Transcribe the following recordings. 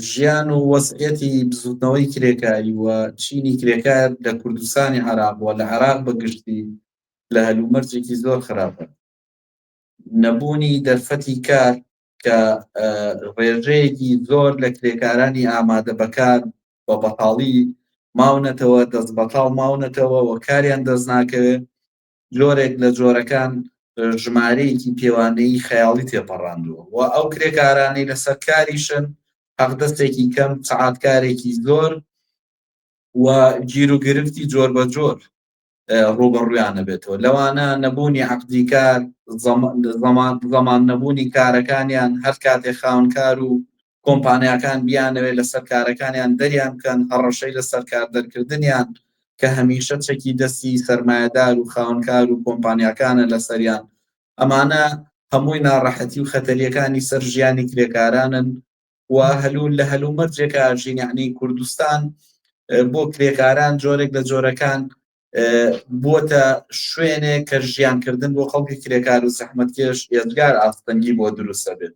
ژیان و وەزعیەتی بزوتنەوەی کرێکاری و چینی کرێکار لە کوردستانی عێراق و لە عێراق بە گشتی لە هەلومەرجێکی زۆر خراپە. نەبوونی دەرفەتی کار کە ڕێژەیەکی زۆر لە کرێکارانی ئامادە بەکار بە بەتاڵی ماونەتەوە دەست بەتاڵ ماونەتەوە و کاریان دەست ناکەوێت جۆرێک لە جۆرەکان ژمارەیەکی پێوانەیی خەیاڵی تێپەڕاندووە و ئەو کرێکارانەی لەسەر کاریشن حەقدەستێکی کەم سەعاتکارێکی زۆر و گیر و گرفتی جۆر بە جۆر ڕوبەڕویانە بێتەوە لەوانە نەبوونی عقدی کار زەمان نەبوونی کارەکانیان هەر کاتێ خاونکار و کۆمپانیاکان بیانەوێت لەسەر کارەکانیان دەریان بکەن، هەڕەشەی لەسەر کاردەرکردنیان کە هەمیشە چەکی دەستی سەرمایەدار و خاوەنکار و کۆمپانیاکانە لەسەریان، ئەمانە هەمووی ناڕەحەتی و خەتەریەکانی سەر ژیانی کرێکارانن و هەلو لە هەلومەرجێکە ئەژین، یەعنی کوردستان بۆ کرێکاران جۆرێک لە جۆرەکان بووەتە شوێنێک کە ژیانکردن بۆ خەڵکی کرێکار و زەحمەتکێش ئێجگار ئاستەنگی بۆ دروستە بێت.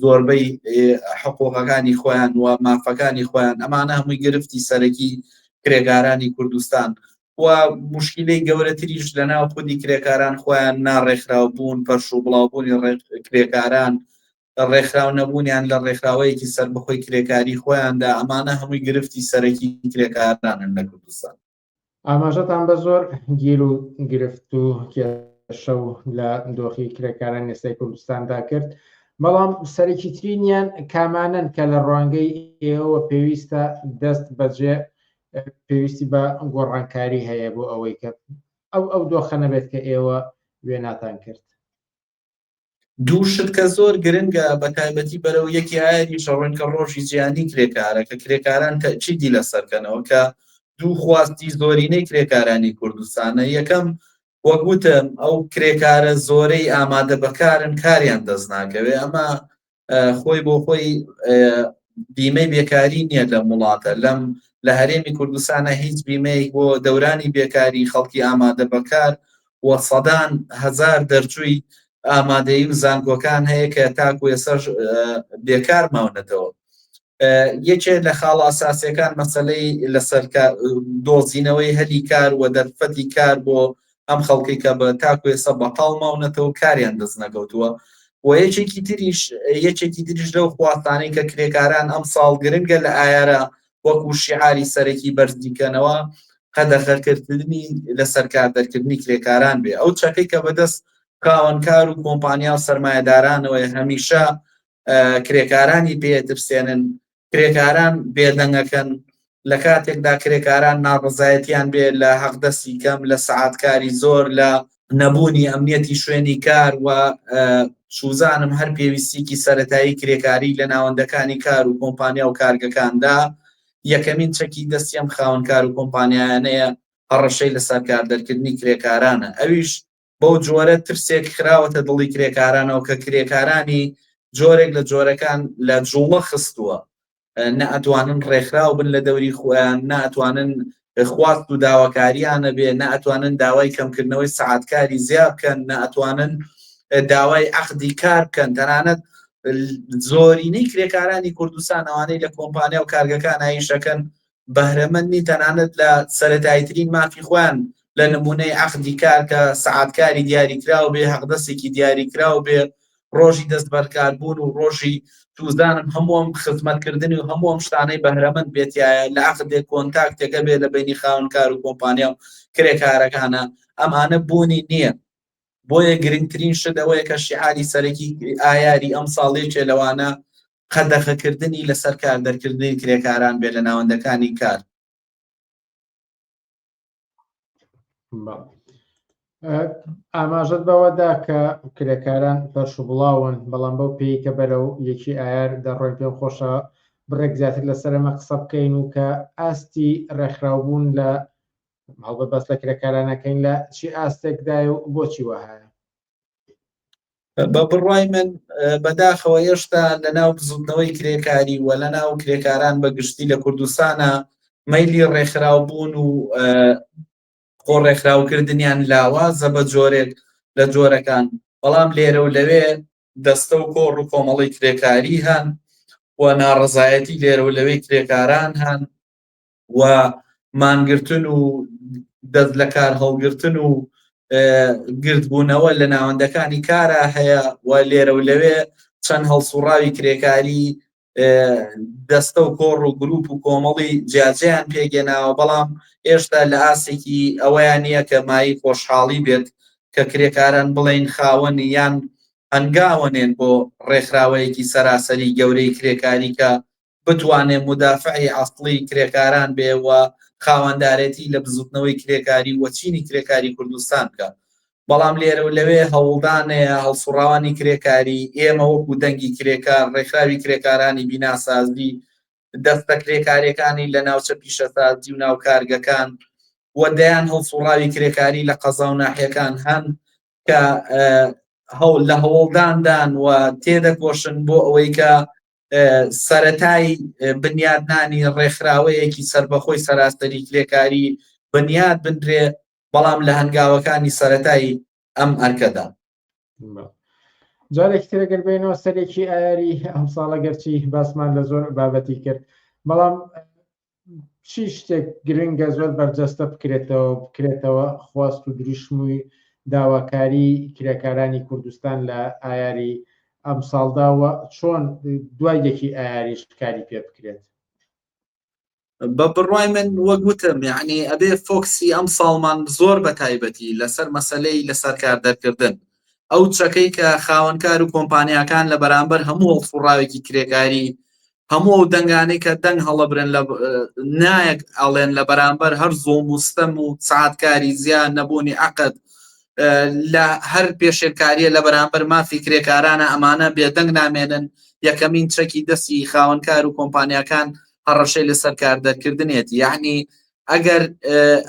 زۆربەی حقۆقەکانی خۆیان و مافەکانی خۆیان ئەمانە هەمووی گرفتی سەرەکی کرێکارانی کوردستان و مشکلەی گەورەتریش لە ناو خودی کرێکاران خۆیان ناڕێکخراو بوون پەرش و بڵاوبوونی کرێکاران ڕێکخراو نەبوونیان لە ڕێکخراوەیەکی سربەخۆی کرێکاری خۆیاندا ئەمانە هەمووی گرفتی سەرەکی کرێکارانن لە کوردستان ئاماژەتان بە زۆر گیر و گرفت و کێشە و لە دۆخی کرێکاران ئێستای کوردستاندا کرد بەڵام سەرەکی ترینیان کامانن کە لە ڕوانگەی ئێوە پێویستە دەست بەجێ پێویستی بە گۆڕانکاری هەیە بۆ ئەوەی کە ئەو ئەو دۆخە نەبێت کە ئێوە وێناتان کرد دوو شت کە زۆر گرنگە بە تایبەتی بەرەو یەکی ئایری شەڕۆن کە ڕۆژی جیانی کرێکارە کە کرێکاران تەچیدی لە سەرکەنەوە کە دوو خواستی زۆرینەی کرێکارانی کوردستانە یەکەم وەگوتم ئەو کرێکارە زۆرەی ئامادە بەکارن کاریان دەست ناکەوێ ئەمە خۆی بۆ خۆی بیمەی بێکاری نییە لە وڵاتە لەم لە هەرێمی کوردستانە هیچ بیمەیەک بۆ دەورانی بێکاری خەڵکی ئامادە بەکار و سەدان هزار دەرچووی ئامادەی و زانکۆکان هەیە کە تاکو ێسەر بێکار ماونەتەوە یەکێ لە خاڵە ئەساسیەکان مەسلەی لەسەر دۆزینەوەی هەلی کار و دەرفەتی کار بۆ ئەم خەڵکی کە بە تاکو ێسە بەتاڵ ماونەتەوە کاریان دەست نەگەوتووە و یەکێکی تریش یەکێکی دریش لەو خواستانەی کە کرێکاران ئەم ساڵ گرنگە لە ئایارە وەکو شیعاری سەرەکی بەرزدیکەنەوە قەدەخەکردنی لە سەرکار دەرکردنی کرێکاران بێ ئەو چەکەی کە بەدەست کاوەنکار و کۆمپانیا و سرمایهدارانەوەی هەمیشە کرێکارانی پێترسێنن کرێکاران بێدەنگەکەن لە کاتێکدا کرێکاران ناڕزایەتیان بێ لە حەقدەسی کەم لە سعاتکاری زۆر لە نەبوونی ئەمنیەتی شوێنی کار و شوزانم هەر پێویستیکی سەتایی کرێکاری لە ناوەندەکانی کار و کۆمپانیا و کارگەکاندا یەکەمین چەکی دەستیم خاونکار و کۆمپانیانەیە هەڕەشەی لە سەرکار دەرکردنی کرێکارانە ئەویش بەو جۆرە ترسێک خراوەتە دڵی کرێکارانەوە کە کرێکارانی جۆرێک لە جۆرەکان لە جوڵە خستووە نەئەتوانن ڕێکخراو بن لە دەوری خۆیان ناتوانن خواست و داواکاریانە بێ ناتوانن داوای کەمکردنەوەی سعاتکاری زیاب بکەن ناتوانن داوای عقدی کار بکەن تەنانەت زۆرینەی کرێکارانی کوردستان ئەوانەی لە کۆمپانیا و کارگەکان ئایشەکەن بەهرەمەند نین تەنانەت لە سەرەتاییترین مافی خۆیان لە نموونەی عەقدی کار کە سەعاتکاری دیاریکراو بێ، هەقدەسێکی دیاریکراو بێ، ڕۆژی دەستبەرکاربوون و ڕۆژی توزانم هەموو ئەم خزمەتکردنی و هەموو ئەم شتانەی بەهرەمەند بێ تیایە، لە عەقدێ کۆنتاکتێکە بێ لە بەینی خاوەن کار و کۆمپانیا و کرێکارەکانا، ئەمانە بوونی نییە. بۆیە گرنگترین شت ئەوەیە کە شیعاری سەرەکی ئایاری ئەمساڵ یەکێ لەوانە قەدەغەکردنی لەسەر کاردەرکردنی کرێکاران بێت لە ناوەندەکانی کار. ئاماژەت بەوەدا کە کرێکاران پەرش و بڵاون بەڵام بەو پێی کە بەرەو یەکی ئایار دەڕۆین پێم خۆشە بڕێک زیاتر لەسەر ئەمە قسە بکەین و کە ئاستی ڕێکخراوبوون لە هەڵبە بەس لە کرێکارانەکەین لە چی ئاستێکدای و بۆچی وەهایە بە بڕوای من بەداخەوە هێشتا لە ناو بزوتنەوەی کرێکاری و لە ناو کرێکاران بە گشتی لە کوردستانە مەلی ڕێکخراو بوون و خۆ ڕێکخراوکردنیان لاوازە بە جۆرێک لە جۆرەکان بەڵام لێرە و لەوێ دەستە و کۆڕ و کۆمەڵی کرێکاری هەن و ناڕزایەتی لێرە و لەوەی کرێکاران هەن و مانگرتن و دەست لە کار هەڵگرتن و گردبوونەوە لە ناوەندەکانی کارا هەیە و لێرە و لەوێ چەند هەڵسوڕاوی کرێکاری دەستە و کۆڕ و گروپ و کۆمەڵی جیاجیان پێگەێناوە بەڵام ئێشتا لە ئاسێکی ئەوەیان نییە کە مای خۆشحاڵی بێت کە کرێکاران بڵین خاوەن یان هەنگاوەنێن بۆ ڕێکخراوەیەکی سەراسەری گەورەی کرێکاری کە بتوانێت مودافعی ئەسڵی کرێکاران بێ و خاوەندارێتی لە بزوتنەوەی کرێکاری و چینی کرێکاری کوردستان بکا بەڵام لێرە و لەوێ هەوڵدانەیە هەڵسوڕاوانی کرێکاری ئێمە وەکو دەنگی کرێکار ڕێکخراوی کرێکارانی بیناسازی دەستە کرێکاریەکانی لە ناوچە پیشەسازی و ناو کارگەکان و دەیان هەڵسوڕاوی کرێکاری لە قەزا و ناحیەکان هەن کە هەوڵ لە هەوڵداندان و تێدەکۆشن بۆ ئەوەی کە سەرەتای بنیادنانی ڕێکخراوەیەکی سربەخۆی سەراسەری کرێکاری بنیاد بنرێ بەڵام لە هەنگاوەکانی سەتایی ئەم ئەرکەدا جارێک ترەگەر بینەوە سەرێکی ئاری ئەم ساڵە گەرچی باسمان لە زۆر بابەتی کرد بەڵام چی شتێک گرنگە زۆر بەرجەستە بکرێتەوە بکرێتەوە خواست و دروشمووی داواکاری کرێکارانی کوردستان لە ئایاری ئەم ساڵداوە چۆن دوای یەکی ئایاریش کاری پێ بکرێت بە بڕای من وەک وتم یعنی ئەبێ فۆکسی ئەم ساڵمان زۆر بە تایبەتی لەسەر مەسلەی لەسەر کار دەرکردن ئەو چەکەی کە خاوەنکار و کۆمپانیاکان لە بەرامبەر هەموو هەڵفڕاوێکی کرێکاری هەموو ئەو دەنگانەی کە دەنگ هەڵەبرێن لە نایەک ئەڵێن لە بەرامبەر هەر زۆڵ مستەم و سعاتکاری زیان نەبوونی عقد لە هەر پێشێلکاریە لە بەرامبەر مافی کرێکارانە ئەمانە بێدەنگ نامێنن یەکەمین چەکی دەستی خاوەنکار و کۆمپانیاکان هەڕەشەی لەسەر کاردەرکردنێتی یعنی ئەگەر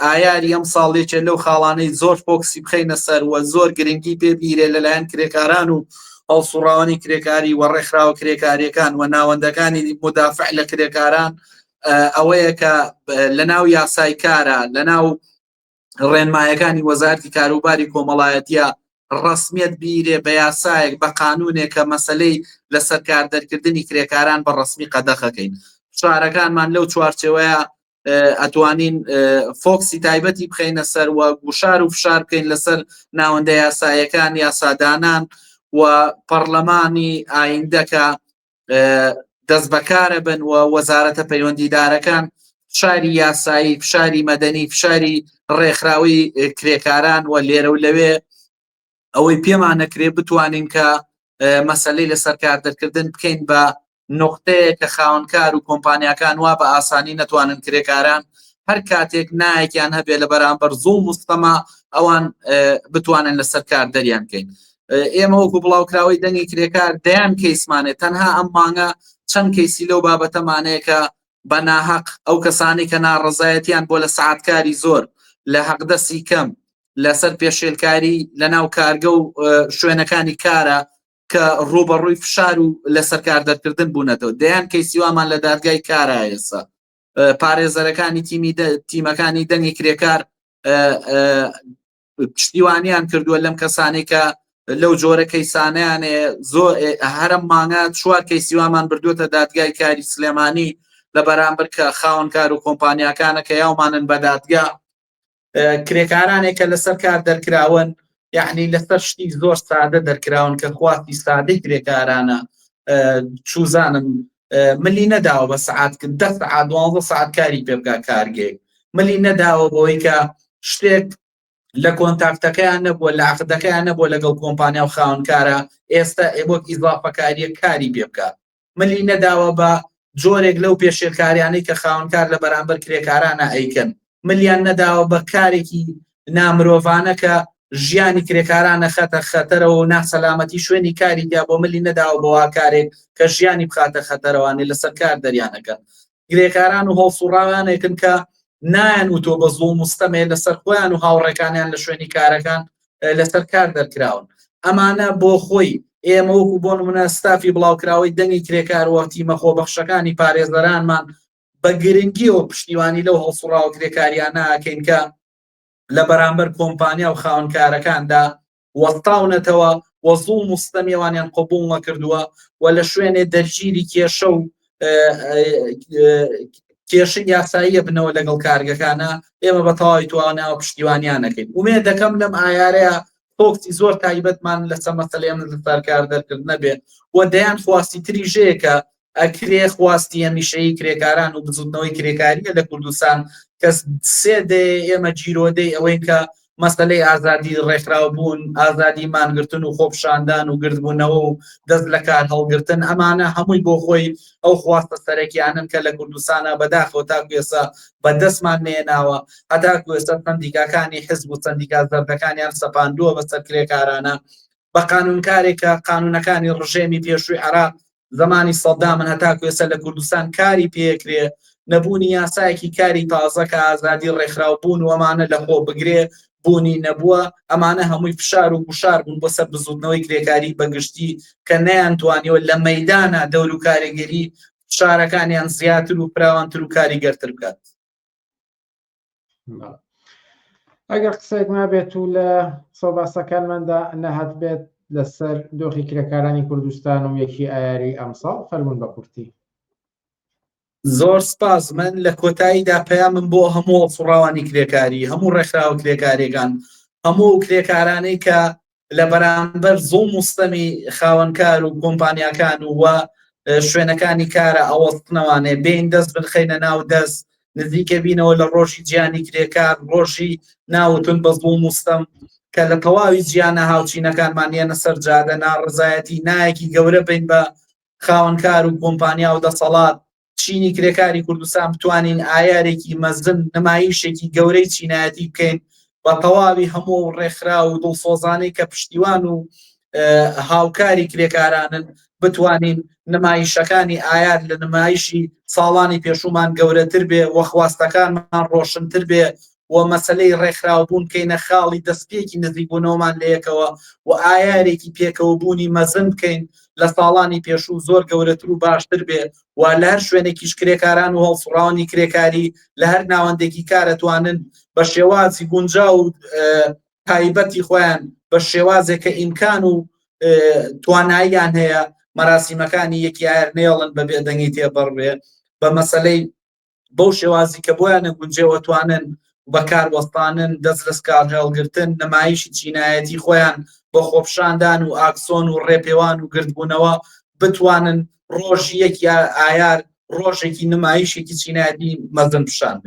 ئایاری ئەم ساڵ یەکێ لەو خاڵانەی زۆر فۆکسی بخینە سەر و زۆر گرنگی پێ بیرێ لەلایەن کرێکاران و هەڵسوڕاوانی کرێکاری و ڕێکخراوە کرێکاریەکان و ناوەندەکانی مدافع لە کرێکاران ئەوەیە کە لە ناو یاسای کارە لە ناو ڕێنمایەکانی وەزارتی کاروباری کۆمەڵایەتە ڕسمیت بیرێ بە یاسایەک بە قانونێک کە مەسلەی لە سەرکار دەرکردنی کرێکاران بە ڕسمی قەدەخەکەین شارەکانمان لەو چوارچەوەیە ئەتوانین فۆکسی تایبەتی بخینە سەر و گوشار و فشار بکەین لەسەر ناوەندە یاسایەکان یاسادانان و پەرلەمانی ئایندەکە دەست بەکارە بن و وەزارەتە پەیوەندیدارەکان فشاری یاسایی فشاری مەدەنی فشاری ڕێکخراوی کرێکاران و لێرە و لەوێ ئەوەی پێمان نەکرێ بتوانین کە مەسلەی لەسەر کار دەرکردن بکەین بە نقطەیە کە خاونکار و کۆمپانیاکان وا بە ئاسانی نەتوانن کرێکاران هەر کاتێک نایەکیان هەبێ لە بەرامبەر زوڵ مستەما ئەوان بتوانن لەسەر کار دەریان بکەین ئێمە وەکو بڵاوکراوەی دەنگی کرێکار دەیان کەیسمانێت تەنها ئەم مانگە چەند کەیسی لەو بابەتەمانەیە کە بە ناهەق ئەو کەسانەی کە ناڕەزایەتیان بۆ لە سەعاتکاری زۆر لە حەقدەسی کەم لەسەر پێشێلکاری لە ناو کارگە و شوێنەکانی کارە کە ڕوبەڕووی فشار و لە سەرکار دەرکردن بوونەتەوە دەیان کەی سیوامان لە دادگای کارە ئێسا پارێزەرەکانی تیمی تیمەکانی دەنگی کرێکار پشتیوانیان کردووە لەم کەسانەی کە لەو جۆرە کەیسانیانێ زۆ هەرم مانگە چوار کەیسیوامان بردوێتە دادگای کاری سلێمانی لە بەرامبەر کە خاونکار و کۆمپانیاکانە کە یاومانن بە دادگا کرێکارانێک کە لەسەر کار دەرکراون یعنی لەسەر شتی زۆر سادە دەرکراون کە خواستی سادەی کرێکارانە چوزانم ملی نەداوە بە سعات دە سعات دوانزە سعات کاری پێ بکە کارگەیەک ملی نەداوە بۆی کە شتێک لە کۆنتاکتەکەیان نەبووە لە عقدەکەیان نەبووە لەگەڵ کۆمپانیا و خاونکارە ئێستا ئێبک ئیزافەکاریە کاری پێ بکە ملی نەداوە بە جۆرێک لەو پێشێلکاریانەی کە خاونکار لە بەرامبەر کرێکارانە ئەیکەن ملیان نەداوە بە کارێکی نامرۆڤانە کە ژیانی کرێکارانە خەتە خەتەرەوە و ناسەلامەتی شوێنی کاری دیا بۆ ملی نەداوە بەوا کارێک کە ژیانی بخاتە خەتەرەوانی لەسەر کار دەریانەکەن گرێکاران و هەڵسوڕاوانێکن کە نایەن و تۆ بە زۆ مستەمێ لەسەر خۆیان و هاوڕێکانیان لە شوێنی کارەکان لەسەر کار دەرکراون ئەمانە بۆ خۆی ئێمە وەکو بۆن منە ستافی بڵاوکراوەی دەنگی کرێکار وەتیمە خۆبەخشەکانی پارێزەرانمان بە گرنگیەوە پشتیوانی لەو هەڵسوڕاوە کرێکاریانە ئەکەین کە لە بەرامبەر کۆمپانیا و خاونکارەکاندا وەستاونەتەوە و زوڵ مستەمیێوانیان قوبوڵ نەکردووە و لە شوێنێ دەرگیری کێشە و کێشە یاساییە بنەوە لەگەڵ کارگەکانە ئێمە بە تەواوی تواناوە پشتیوانیانەکەین ومێ دەکەم لەم ئایارەیە تۆکسی زۆر تایبەتمان لەسە مەسلێ من لەسەرکار دەرکرد نەبێ و دەیان خواستی تری ژەیەکە ئەکرێ خواستی هەمیشەیی کرێکاران و بزوتنەوەی کرێکاریە لە کوردستان کە سێ دەیەیە ئێمە گیرۆدەی ئەوەین کە مەسەلەی ئازادی ڕێکخراو بوون، ئازادی مانگرتن و خۆپشاندان و گردبوونەوە و دەست لە کار هەڵگرتن ئەمانە هەمووی بۆ خۆی ئەو خواستە سەرەکیانەن کە لە کوردستانا بەداخەوە تاکو ئێستا بە دەستمان نەیەناوە هەتاکو ئێستا سەندیکاکانی حزب و سەندیکا زەردەکانیان سەپاندووە بەسەر کرێکارانە بە قانونکارێکە قانونەکانی ڕژێمی پێشووی عێراق زەمانی سەدامن هەتاکو ئێستا لە کوردستان کاری پێکرێ نەبوونی یاسایەکی کاری تازە کە ئازادی ڕێکخراو بوون و ئەمانە لە خۆ بگرێ بوونی نەبووە ئەمانە هەمووی فشار و گوشار بوون بۆ سەر بزوتنەوەی کرێکاری بەگشتی کە نیان توانیوە لە مەدانا دەور و کارێگەری شارەکانیان زیاتر و فراوانتر و کاریگەرتر بکات ئەگەر قسێک نابێت و لە سەباسەکانماندا نەهات بێت لەسەر دۆخی کرێکارانی کوردستان و یەکی ئایاری ئەمساڵ فەرمون بە کورتی زۆر سپاس من لە کۆتاییدا پەیامم بۆ هەموو فڕاوانی کرێکاری هەموو ڕێکخراوە کرێکارێکان هەموو کرێکارانەی کە لە بەرامبەر زوڵم و ستەمی خاوەنکار و کۆمپانیاکان و وە شوێنەکانی کارە ئەوەستنەوانێ بێین دەست بنخینە ناو دەست نزیکە بینەوە لە ڕۆژی جیانی کرێکار ڕۆژی ناوتون بە زوڵم و ستەم کە لە تەواوی جیانە هاوچینەکانمان یەنە سەر جادە ناڕزایەتی نایەکی گەورە بین بە خاوەنکار و کۆمپانیا و دەسەڵات چینی کرێکاری کوردستان بتوانین ئایارێکی مەزن نمایشێکی گەورەی چینایەتی بکەین بە تەواوی هەموو و ڕێکخرا و دڵسۆزانەی کە پشتیوان و هاوکاری کرێکارانن بتوانین نمایشەکانی ئایار لە نمایشی ساڵانی پێشومان گەورەتر بێ وەخواستەکانمان ڕۆشنتر بێ و مەسەلەی ڕێکخراوبوون بکەینە خاڵی دەستپێکی نزیکبوونەوەمان لەیەکەوە و ئایارێکی پێکەوەبوونی مەزن بکەین لە ساڵانی پێشوو زۆر گەورەتر و باشتر بێ و لە هەر شوێنێکیش کرێکاران و هەڵسوڕاوانی کرێکاری لە هەر ناوەندێکی کار ئەتوانن بە شێوازی گونجاو و تایبەتی خۆیان بە شێوازێک کە ئیمکان و تواناییان هەیە مەراسیمەکانی یەکی ئایر نێڵن بە بێدەنگی تێبڕێ بە مەسلەی بەو شێوازی کە بۆیان نەگونجێەوە توانن بەکار وەستانن دەست لەسکار هەڵگرتن نمایشی چینایەتی خۆیان بۆ خۆپشاندان و ئاکسۆن و ڕێپێوان و گردبوونەوە بتوانن ڕۆژ یەک یا ئایار ڕۆژێکی نمایشێکی چینایەتی مەزن پیشان بێ